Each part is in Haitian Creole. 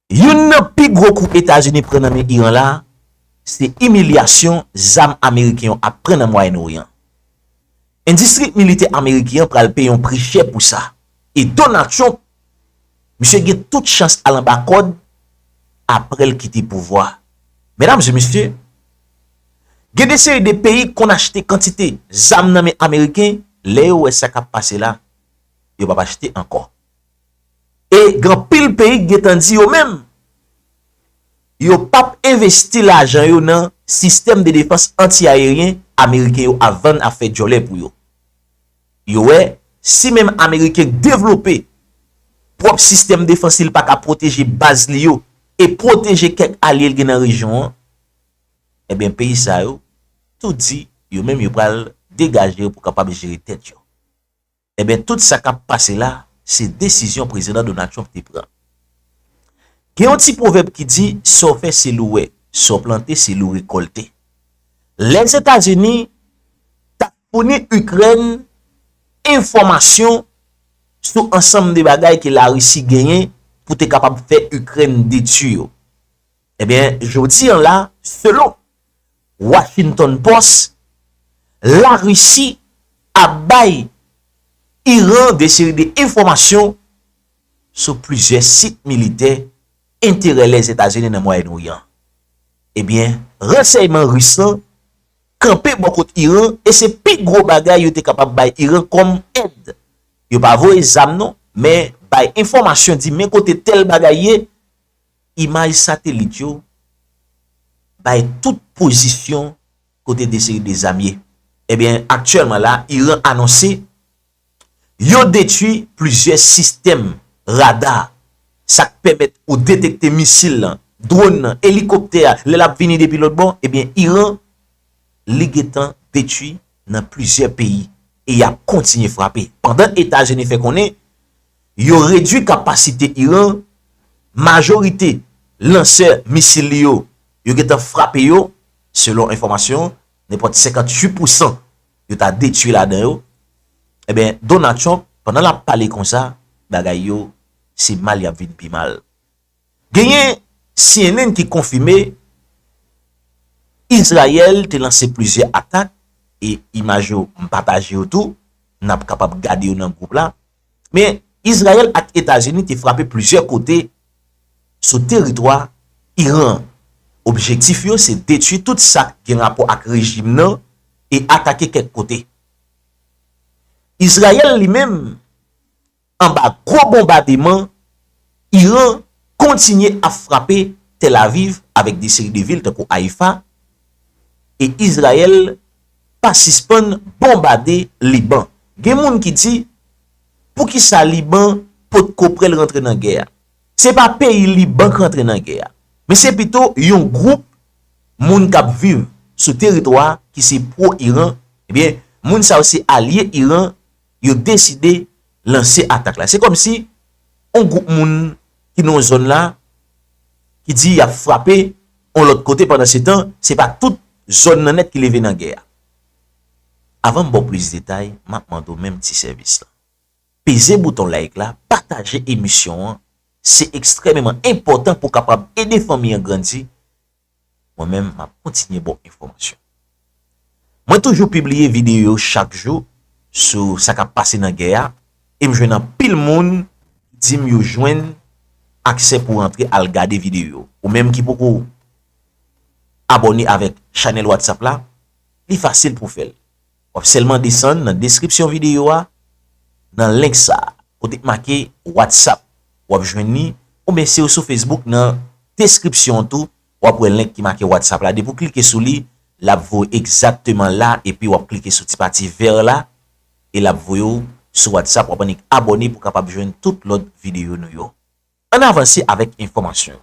Youn nan pi gwo kou Etazini pran nan men Iran la, se imilyasyon zam ameriken yo ap pran nan Mwayen Oryan. Endistri militè ameriken an pral peye yon pri chè pou sa. E Donald Trump, misye gen tout chans al anba kòd apre l kite pouvwa. Medam e mesye, gen de seri de peyi k konn achte kantite zam nan men ameriken, lè yo wè sa k ap pase la, yo p ap achte ankò. E gen anpil peyi ki gentan di yo menm, yo p ap envesti lajan yo nan sistèm de defans anti-ayeryen Ameriken yo ap vann, ap fè djòlè pou yo. Yo wè, si menm Ameriken k devlope pwòp sistèm defans li, l pa ka pwoteje baz li yo e pwoteje kèk alye l gen nan rejyon an, enben peyi sa yo tou di yo menm yo pral degaje yo pou kapab jere tèt yo. Enben tout sa kap pase la se desizyon Prezidan Donald Trump te pran. Gen yon ti pwovèb ki di sa w fè se li w wè, sa w plante se li w rekòlte. Lèzetazini tap founi Ikrèn enfòmasyon sou ansanm de bagay ke Larisi genyen pou te kapab fè Ikrèn detui yo. Ebyen jodi an la, selon Washington Post, la Risi ap bay Iran de seri de enfòmasyon sou plizyè sit militè enterè Lèzetazini nan Mwayèn Oryan. Ebyen, ransèyman Ris lan kanpe bò kot Iran e se pi gwo bagay yo te kapab bay Iran kòm èd. Yo pa voye zam non, men bay enfòmasyon di men kote tèl bagay ye, Imaj satelit yo bay tout pozisyon kote de seri de zam ye. Ebyen aktyèlman la Iran anonse yo detwi plizyè sistèm rada sa k pèmèt ou detekte misil lan, dwòn nan, elikoptè a lè l ap vini depi lòt bò ebyen Iran li gentan detwi. nan plizyè peyi e y ap kontinye frape pandan Etazini fè konnen yo redui kapasite Iran, majorite lansè misil li yo, yo gentan frape yo, selon enfòmasyon, nenpòt 58 pousan yo ta detui ladan yo, enben Donald Trump pandan l ap pale konsa, bagay yo se mal y ap vin pi mal. Genyen cnn ki konfime Izrayèl te lanse plizyè atak e imaj yo m pataje yo tou, n ap kapab gade yo nan gwoup la, men Izrayèl ak Etazini te frape plizyè kote sou teritwa Iran an. Objektif yo se detui tout sa k gen rapò ak rejim nan e atake kèk kote. Izrayèl li menm anba gwo bonbademan Iran kontinye ap frape Tel Aviv avèk de seri de vil tankou Haifa e Izrayèl pa sispann bonbade Liban. Gen moun ki di poukisa Liban potko prèl rantre nan gè a? Se pa peyi Liban k rantre nan gè a, men se pito yon gwoup moun k ap viv sou teritwa ki se pwo-Iran, ebyen moun sa yo se alye Iran, yo deside lanse atak la. Se kòm si yon gwoup moun ki nan yon zòn la, ki di y ap frape yon lòt kote pandan se tan, se pa tout zòn nan nèt ki leve nan gè a. Avan m ba w plis detay, m ap mande w menm ti sèvis la. Peze bouton like la, pataje emisyon an, se ekstrèmeman enpòtan pou w kapab ede fanmi an grandi. Mwen menm map kontinye baw enfòmasyon. Mwen toujou pibliye videyo chak jou sou sa kap pase nan gè a e m jwenn anpil moun ki di m yo jwenn aksè pou rantre al gade videyo yo. Ou menm ki poko abòne avèk chanèl whatsapp la, li fasil pou w fè l. Wap sèlman desann nan deskripsyon videyo a nan link sa kote k make WhatsApp wap jwenn li oubyen siw sou Facebook nan deskripsyon an tou wap wè link ki make WhatsApp la depi w klike sou li lap voye w egzakteman la epi wap klike sou ti pati vèr la e lap voye w sou WhatsApp wap annik abòne pou kapab jwenn tout lòt videyo nou yo. Ann avanse avèk enfòmasyon yo.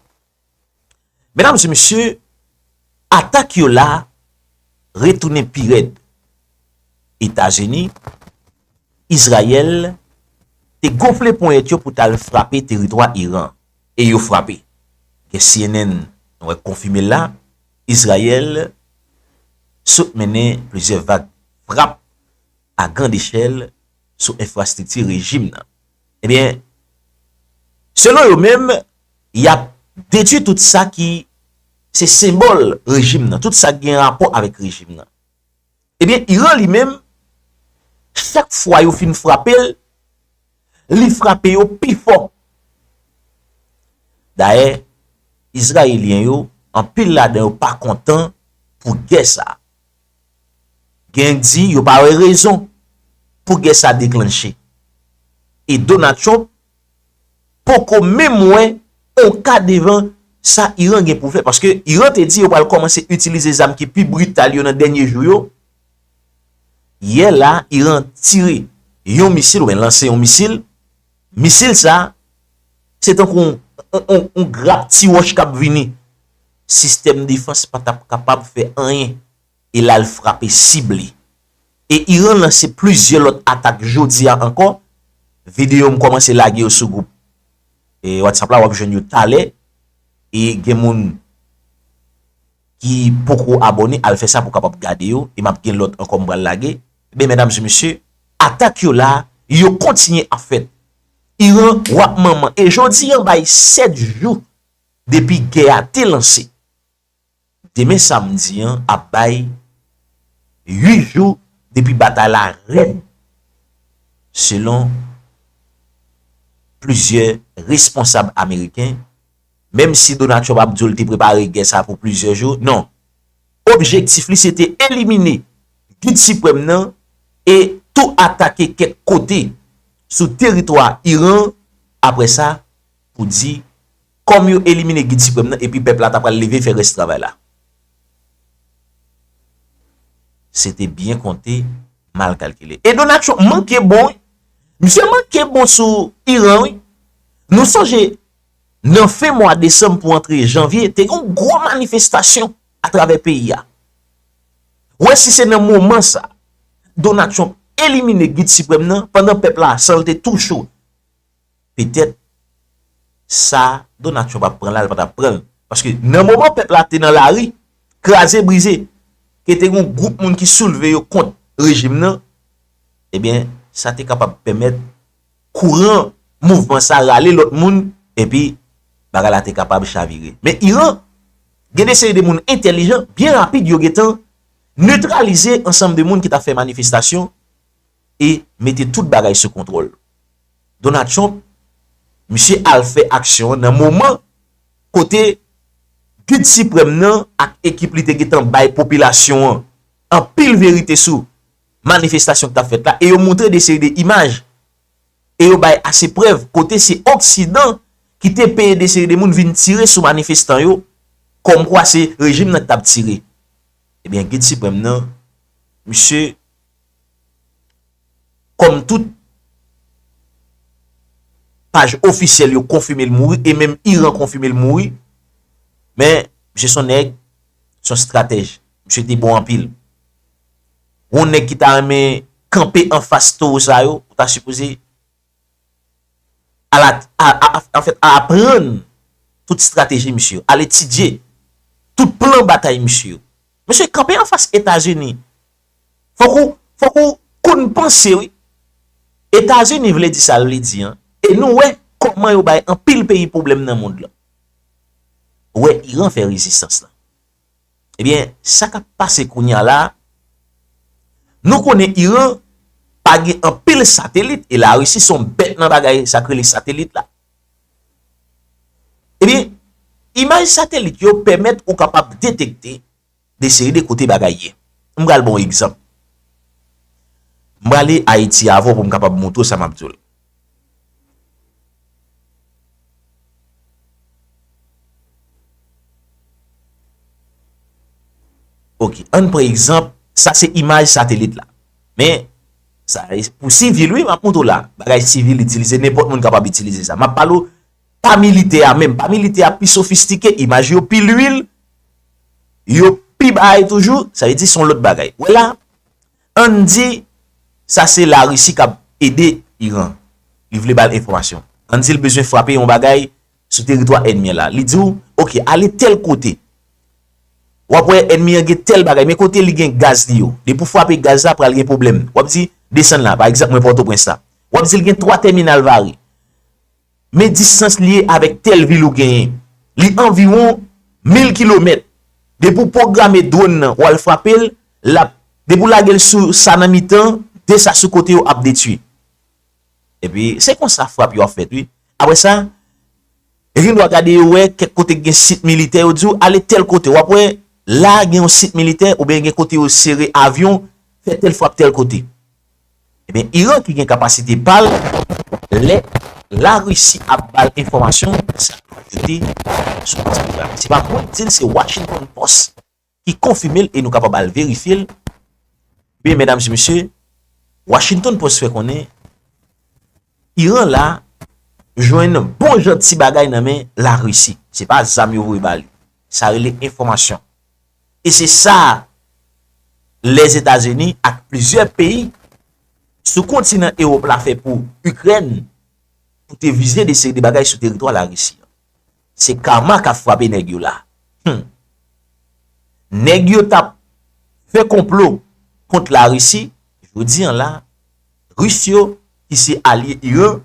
Medam e mesye, atak yo la retounen pi rèd. Etazini, Izrayèl te gonfle ponyèt yo pou t al frape teritwa Iran. E yo frape. Ke cnn nou wè konfime l la, Izrayèl sot mennen plizyè vag frap a grandechèl sou enfrastrikti rejim nan. Ebyen, selon yo menm, y ap detui tout sa ki se senbòl rejim nan, tout sa ki gen rapò avèk rejim nan. Ebyen, Iran li menm, chak fwa yo fin frape l, li frape yo pi fò. Dayè, Izrayelyen yo, anpil ladan yo pa kontan pou gè sa a. Gen di yo pa wè rezon pou gè sa deklanche. E Donald Trump poko menm wè on ka devan sa Iran gen pou fè. Paske Iran te di yo pral kòmanse itilize zam ki pi brital yo nan dènye jou yo. Yè la Iran tire yon misil ou byen lanse yon misil. Misil sa se tankou on grap ti wòch kap vini. sistèm defans pa t ap kapab fè anyen e l al frape sib li. E Iran lanse plizyè lòt atak jodi a ankò, videyo m kòmanse lage yo sou gwoup WhatsApp la w ap jwenn yo talè e gen moun ki poko abòne al fè sa pou w kapab gade yo e m ap gen lòt ankò m pral lage. Ebyen medam e mesye atak yo la yo kontinye ap fèt. Iran wap manman e jodi an bay 7 jou Depi gè a te lanse, demen samdi an ap bay 8 jou depi batay la rèd selon plizyè responsab ameriken, menm si Donald Trump ap di w li te prepare gè sa pou plizyè jou, non, objektif li se te elimine Gid Siprèm nan e tou atake kèk kote sou teritwa Iran, apre sa pou di kòm yo elimine Gid Siprèm nan epi pèp la ta pral leve fè rès travay la. Se te byen konte, mal kalkile. E Donakchon manke bon wi. Misye manke bon sou Iran wi. Nou sonje nan fen mwa desanm pou antre janvye, te gen yon gwo manifestasyon atravè peyi a. Ou wè si se nan moman sa, Donakchon elimine Gid Siprèm nan, pandan pèp la san l te tou cho. petèt sa Donald Trump ap pran la li pa tap pranl paske nan moman pèp la te nan lari kraze brize ke te gon gwoup moun ki soulve yo kont rejim nan ebyen sa te kapab pèmèt kouran mouvman sa rale lòt moun epi bagay la te kapab chavire men Iran gen de seri de moun entèlijan byen rapid yo gentan netralize ansanm de moun ki tap fè manifestasyon e mete tout bagay sou kontwòl. Donald Trump, misye al fè aksyon an nan moman kote Gid Siprèm nan ak ekip li te gentan bay popilasyon an anpil verite sou manifestasyon ki t ap fèt la e yo montre de seri de imaj e yo bay ase prèv kote se oksidan ki te peye de seri de moun vin tire sou manifestan yo kòmkwa se rejim nan ki t ap tire. Ebyen Gid Siprèm nan, misye. Kòm tout paj ofisyèl yo konfime l mouri e menm Iran konfime l mouri, men misye son nèg, son stratèj. Misye te bon anpil. Yon nèg ki ta renmen kanpe anfas towo sa yo, ou ta sipoze. a aprann tout strateji misye yo, al etidye tout plan batay misye yo. Mesye, kanpe anfas Etazini, fòk ou, fòk ou konn panse wi. Etazini vle di sa l vle di an, e nou wè kòman yo bay anpil peyi pwoblèm nan mond lan. Wè Iran fè rezistans lan. Ebyen sa kap pase kounya la, nou konnen Iran pa gen anpil satelit e la Russie son bèt nan bagay sak rele satelit la. Ebyen imaj satelit yo pèmèt ou kapab detekte de seri de kote bagay ye. M pral ba w egzanp. M prale Ayiti avè w pou m kapab moutre w sa map di w la. Ok, ann pran egzanp, sa se imaj satelit la. Men, sa e pou sivil wi, m ap montre w la. Bagay sivil itilize, nenpòt moun kapab itilize sa. M ap pale w, pa militè a menm. Pa militè a pi sofistike, imaj yo pi lwil, yo pi bay toujou, sa e di son lòt bagay. Wè la? Ann di sa se la Risi kap ede Iran li vle bal enfòmasyon. Ann di l bezwen frape yon bagay sou teritwa ènmi an la. Li di w ok ale tèl kote wap wè ènmi an gen tèl bagay men kote li gen gaz li yo depi w frape gaz la pral gen pwoblèm wap di desann la pa egzanp mwen pòtoprens la wap di l gen 3 tèminal vare Men distans li ye avèk tèl vil ou genyen. Li anviwon 1000 kilomèt. Depi ou pwograme dwonn nan ou al frape l, l ap, depi ou lage l sou sa nan mitan, 2 sa sou kote yo ap detui. Epi, se konsa frap yo ap fèt wi. Apre sa, yo gen dwa gade yo wè kèk kote ki gen sit militè, yo di ou ale tèl kote, w ap wè la gen yon sit militè oubyen gen kote yo sere avyon, fè tèl frap tèl kote. Ebyen Iran ki gen kapasite pal lè la Russie ap bal enfòmasyon sa yo te sou baz pwogram se pa mwen ki dil se Washington post ki konfimel e nou kapab al verifyel ebyen medam e mesye Washington post fè konnen Iran la jwenn bon jan ti bagay nan men la Risi. Se pa zam yo voye ba li. Sa rele enfòmasyon. E se sa Lèzetazini ak plizyè peyi sou kontinan Ewòp la fè pou Ikrèn pou te vize de seri de bagay sou teritwa la Risi. Se karma kap frape neg yo la. Humm. Neg yo tap Fe konplo kont la Russie jodi an la Russe yo ki se alye Iran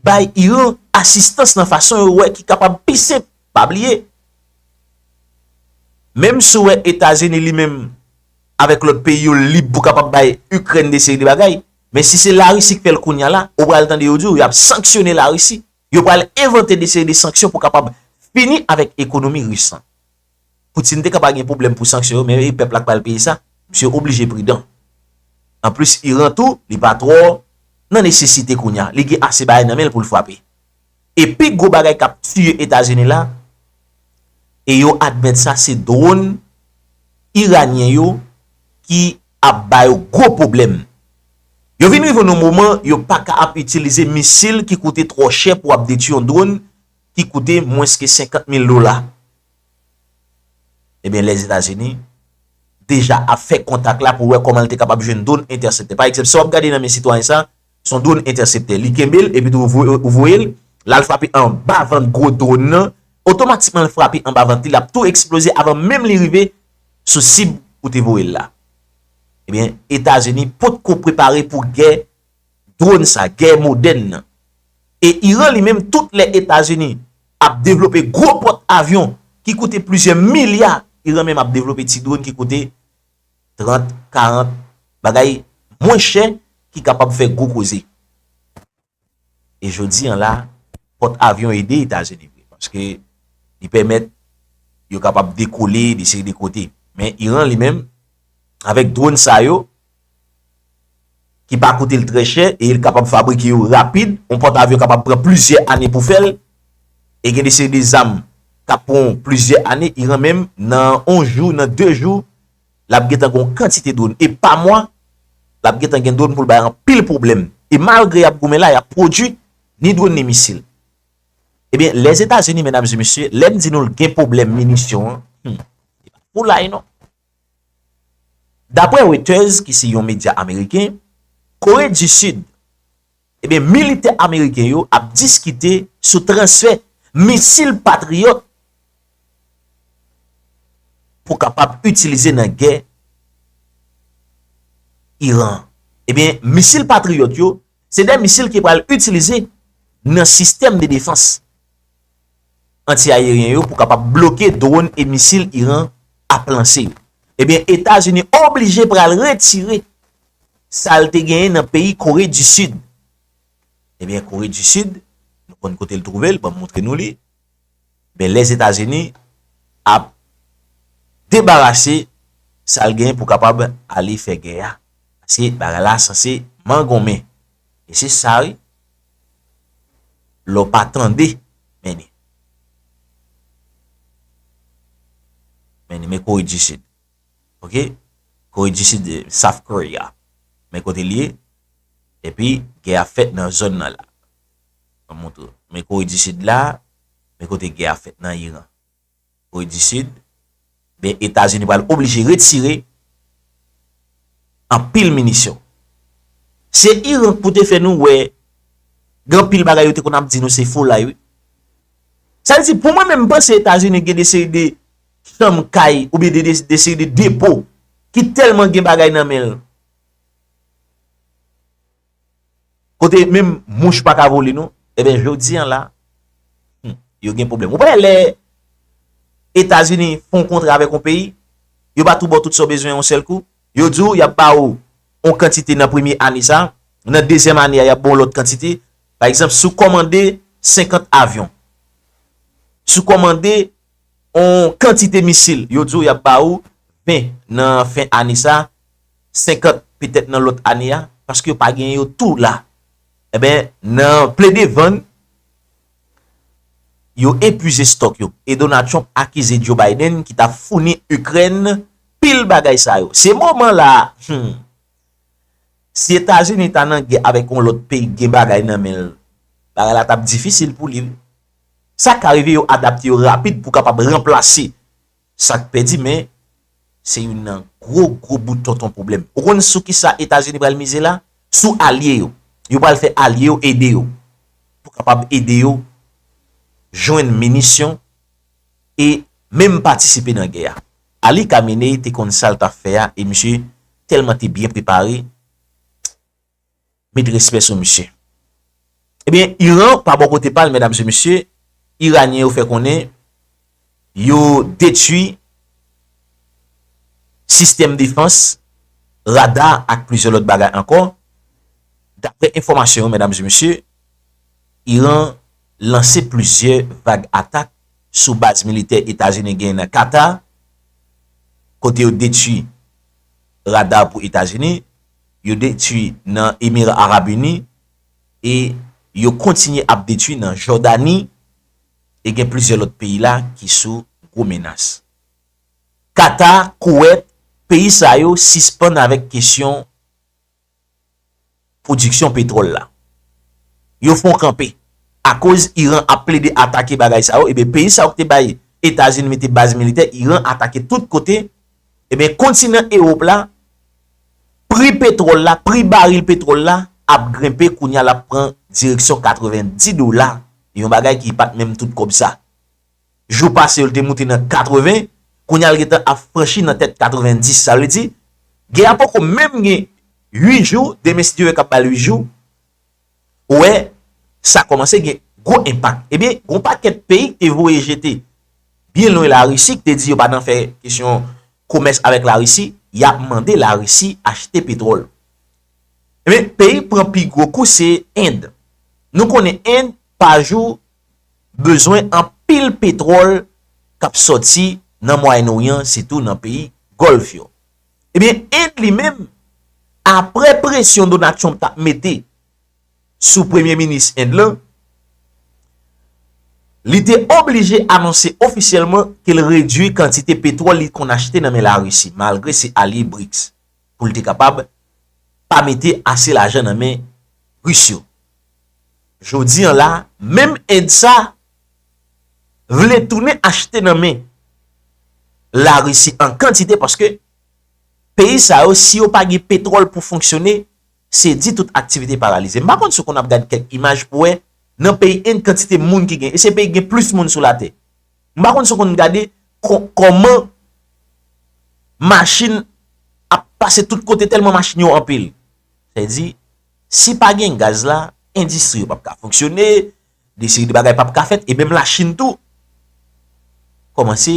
bay Iran asistans nan fason yo we ki kapab pi senp. Pa bliye. Menm si w we Etazini li menm avek lot peyi yo lib pou kapab bay Ukraine de seri de bagay. Men si se la Russie ki fel kounya la ou pral tande yo di w yap sanksyone la Russie. yo pral envante de seri de sanksyon pou kapab fini avèk ekonomi Ris lan. Putin te ka pa gen pwoblèm pou sanksyon yo men e pèp la k pral peye sa? Misye oblije pridan. Anplis Iran tou, li pa twò nan nesesite kounya, li gen ase bagay nan men l pou l frape. E pi gwo bagay k ap tiye Etazini la, e yo admèt sa, se dwòn Iranyen yo ki ap ba yo gwo pwoblèm. Yo vin rive yon moman yo pa ka ap itilize misil ki koute twò chè pou ap detui yon dronn ki koute mwens ke 50 mil dola. Ebyen Lèzetazini deja ap fè kontak la pou wè kòman li te kapab jwenn dronn entèseptè. Pa egzanp, si w ap gade nan men sitwayen sa, son drone entèseptè li kenbe l epi tou ou voye l la l frape anba vant gwo drone nan otomatikman l frape anba vant li l ap tou eksploze avan menm li rive sou sib ou te voye l la ebyen etazini pot ko prepare pou gè drone sa gè modèn nan e iran li menm tout lè etazini ap devlope gwo pot avyon ki koute plizyè milya iran menm ap devlope ti drone ki koute 30, 40, bagay mwen chè ki kapab fè gwo koze. E jodi an la, pòt avyon ede Etazini vre, paske li pèmèt yo kapab dekole de seri de kote. Men Iran li menm, avèk dronn sa yo, ki pa koute l trè chè e l kapab fabrike yo rapid, yon pòtavyon kapab pran plizyè ane pou fè l, e gen de seri de zam k ap pran w plizyè ane, Iran menm nan yon jou, nan de jou, l ap gentan gen yon kantite dwòn, e pa mwa, l ap gentan gen dwòn pou l bay anpil pwoblèm, e malgre y ap goumen la, y ap pwodui ni dwòn ni misil. Ebyen, Lèzetazini, medam e mesye, lè m di nou l gen pwoblèm minisyon an, humm, se pa foulay non. Dapre Reuters ki se yon medya ameriken, Kore di Sid, ebyen militè ameriken yo ap diskite sou transfè misil Patriot pou kapab itilize nan gè Iran an. Ebyen misil Patriot yo se de misil ki pral itilize nan sistèm de defans. anti-ayeryen yo pou kapab bloke dwòn e misil Iran ap lanse yo. Ebyen Etazini oblije pral retire sa l te genyen nan peyi Kore di Sid. Ebyen Kore di Sid, nou konn kote l twouve l, banm moutre nou li, ebyen Lèzetazini ap debarase sa l genyen pou kapab ale fè gè a. Paske bagay la sanse mangonmen. E se sa wi. Lè w pa tande, men li. Men li, men Kore di Sid. Ok? Kore di Sid, South Korea. Men kote li ye. E pi, gè a fèt nan zòn nan la. Mwen montre w. Men Kore di Sid la, men kote gè a fèt nan Iran. Kore di Sid, men Etazini pral oblije retire anpil minisyon. Se Iran pou te fè nou wè gen anpil bagay yo te konn ap di nou se folay wi. Sa vle di pou mwen menm m panse Etazini gen de seri de chanm kay oubyen de de seri de depo ki tèlman gen bagay nan men l. Kote menm mouch pa ka vole non. Eben jodi an la, hum, yo gen pwoblèm. Ou pa wè lè Etazini fè yon kontra avèk yon peyi, yo pa tou ba w tout sa w bezwen yon sèl kou? Yo di w y ap ba ou yon kantite nan premye ane sa, nan dezyèm ane a y ap ba w yon lòt kantite. Pa egzanp, si w kòmande 50 avyon, si w kòmande yon kantite misil, yo di w y ap ba ou 20 nan fen ane sa. 50 petèt nan lòt ane a, paske yo pa gen yo tou la. Enben, nan plede vann, yo epuize stòk yo. E Donald Trump akize Joe Biden ki ta founi Ikrèn pil bagay sa yo. Se moman la a, humm, si Etazini ta nan gè avèk yon lòt peyi k gen bagay nan men l, bagay la t ap difisil pou li wi. Sa ka rive yo adapte yo rapid pou kapab ranplase Sa k pèdi men, se youn nan gwo gwo bout tonton pwoblèm. Ou konn sou ki sa Etazini pral mize la? Sou alye yo. Yo pral fè alye yo ede yo pou kapab ede yo jwenn minisyon e menm patisipe nan gè a. Ali Khamenei te konn sa l t ap fè a e misye tèlman te byen prepare. met respè sou misye. Ebyen, Iran, pa bò kote pa l, medam e mesye, Iranyen yo fè konnen yo detui sistèm defans, rada ak plizyè lòt bagay ankò. Daprè enfòmasyon yo, medam e mesye, Iran lanse plizyè vag atak sou baz militè Etazini genyen nan Kata, kote yo detui rada pou Etazini, yo detwi nan Emira Arab Uni e yo kontinye ap detwi nan Jòdani e gen plizyè lòt peyi la ki sou gwo menas. Kata, Kowèt, peyi sa yo sispann avèk kesyon pwodiksyon petwòl la. Yo fon kanpe. Akoz Iran ap plede atake bagay sa yo, eben peyi sa yo ki te bay Etazini mete baz militè, Iran atake tout kote, eben kontinan Ewop la pri petwòl la, pri baril petwòl la ap grenpe kounye a l ap pran direksyon 90 dola, yon bagay ki pa t menm tout kòb sa. Jou pase yo l te moute nan 80, kounye a l gentan ap franchi nan tèt 90. Sa vle di, gè a poko menm gen 8 jou, demen si Dye vle k ap ba l 8 jou, Ou wè, sa kòmanse gen gwo enpak. Ebyen, gon pakèt peyi k te voye jete byen lwen Larisi, k te di yo pa nan fè kesyon komès avèk Larisi, y ap mande Larisi achte petwòl. Ebyen, peyi k pran pi gwo kou se End. Nou konnen End, pa jou, bezwen anpil petwòl k ap sòti nan Mwayenn Oryan, sitou nan peyi Gòlf yo. Ebyen End li menm apre presyon Donald Trump t ap mete sou premye minis End lan, li te oblije anonse ofisyèlman ke l redui kantite petwòl li konn achte nan men Larisi malgre se alye BRICS pou l te kapab pa mete ase lajan nan men Ris yo. Jodi an la, menm End sa vle tounen achte nan men larisi an kantite paske peyi sa yo si yo pa gen petròl pou fonksyone se di tout aktivite paralize. M pa konn si w konn ap gad kèk imaj pou wè nan peyi End kantite moun ki gen e se peyi ki gen plis moun sou latè. M pa konn si w konn gade kòman machin ap pase tout kote tèlman machin yo anpil. Sa vle di si pa gen gaz la endistri yo p ap ka fonksyone, De seri de bagay pap ka fèt e menm la chine tou kòmanse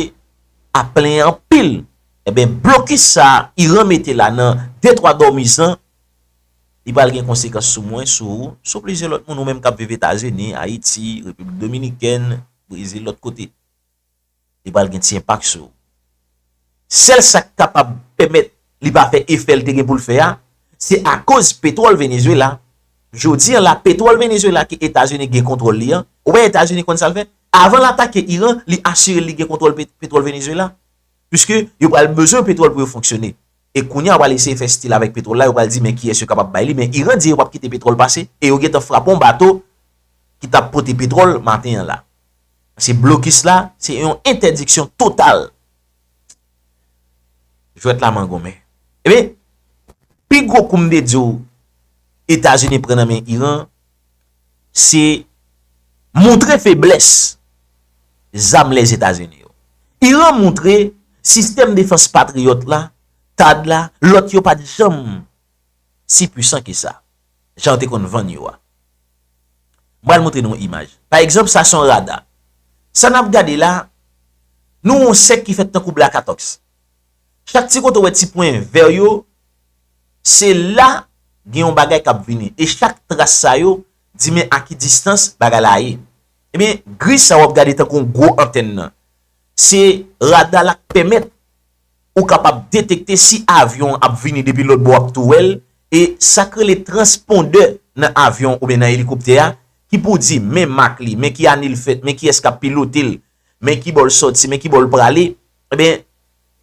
ap plenyen anpil eben blokis sa iran mete la nan de twa dòmizan li pral gen konsekans sou mwen sou ou sou plizyè lòt moun ou menm kap viv etazini ayiti repiblik dominikèn brezil lòt kote. li pral gen ti enpak sou ou. Sèl sa k kapab pèmèt li pa fè efè l te gen pou l fè a, se akoz petwòl Venezuela. Jodi an la, petwòl Venezuela ke Etazini gen kontwòl li an, ou wè Etazini konn sa l fè? Avan l atake Iran, li asire l li gen kontwòl petwòl Venezuela. Piske yo pral bezwen petwòl pou yo fonksyone. e kounye a yo pral eseye fè stil avèk petwòl la, yo pral di men kiyès yo kapab bay li, men Iran di yo pap kite petwòl pase e yo gentan frape yon bato ki tap pote petwòl maten an la. Paske blokis la, se yon entèdiksyon total. Jwèt la mangonmen. Ebyen, pi gwo koumdediw Etazini pran nan men Iran, se moutre feblès zam Lèzetazini yo. Iran moutre sistèm defans Patriot la, Thaad la, lòt yo pat janm si pwisan ke sa, jan yo te konn vann yo a. M pral moutre nou yon imaj. Pa egzanp, sa se yon rada. Sa n ap gade la, nou wè yon sèk ki fèt tankou blakatòks. Chak ti kote ou wè ti pwen vè yo, se la gen yon bagay k ap vini. E chak tras sa yo di men a ki distans bagay la ye. Ebyen, gri sa w ap gade tankou yon gwo antèn nan, se rada la k pèmèt ou kapab detekte si avyon an ap vini depi lòtbò w ap tou wè l. E sa k rele transpondè nan avyon oubyen nan elikoptè a ki pou di men mak li, men ki ane l fèt, men kiyès k ap pilote l, men ki bò l soti, men ki bò l prale, enben,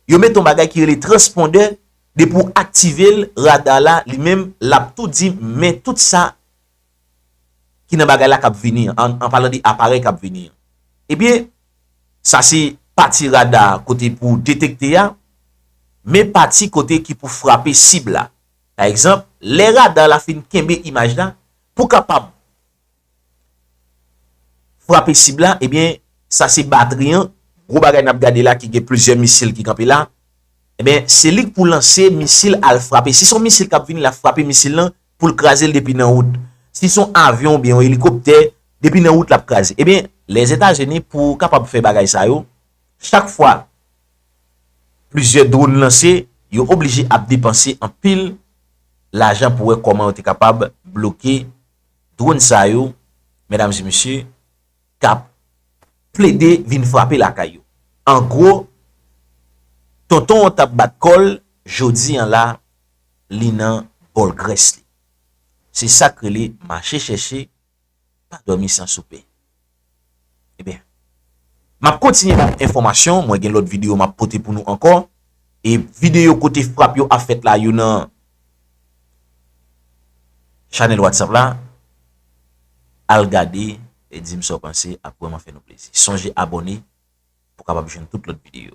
yo mete yon bagay ki rele transpondè, depi w aktive l, rada la, li menm, l ap tou di, men tout sa ki nan bagay la k ap vini an, an palan de aparèy k ap vini an. Ebyen, sa se pati rada kote pou detekte a, men pati kote ki pou frape sib la. Pa egzanp, lè rada la fin kenbe imaj la, pou kapab. frape sib la, ebyen sa se batri an, gwo bagay nap gade la ki gen plizyè misil ki kanpe la, ebyen se li k pou lanse misil al frape, si son misil kap vini lap frape misil lan poul kraze l depi nan wout, si son avyon oubyen yon elikoptè depi nan wout lap kraze, ebyen Lèzetazini pou kapab fè bagay sa yo, chak fwa plizyè dron lanse, yo oblije ap depanse anpil lajan pou wè kòman yo te kapab bloke. Dronn sa yo, medam e mesye, kap plede vin frape lakay yo. An gwo, tonton an tap bat kò l, jodi an la, li nan bòl grès li. Se sak rele mache chèche, pa dòmi san soupe. Ebyen Map kontinye ba nou enfòmasyon, mwen gen lòt videyo map pote pou nou ankò e videyo kote frap yo ap fèt la yo nan Chanèl Whatsapp la Al gade e dim sa w panse ap vrèman fè nou plezi Sonje abòne pou w kapab jwenn tout lòt videyo.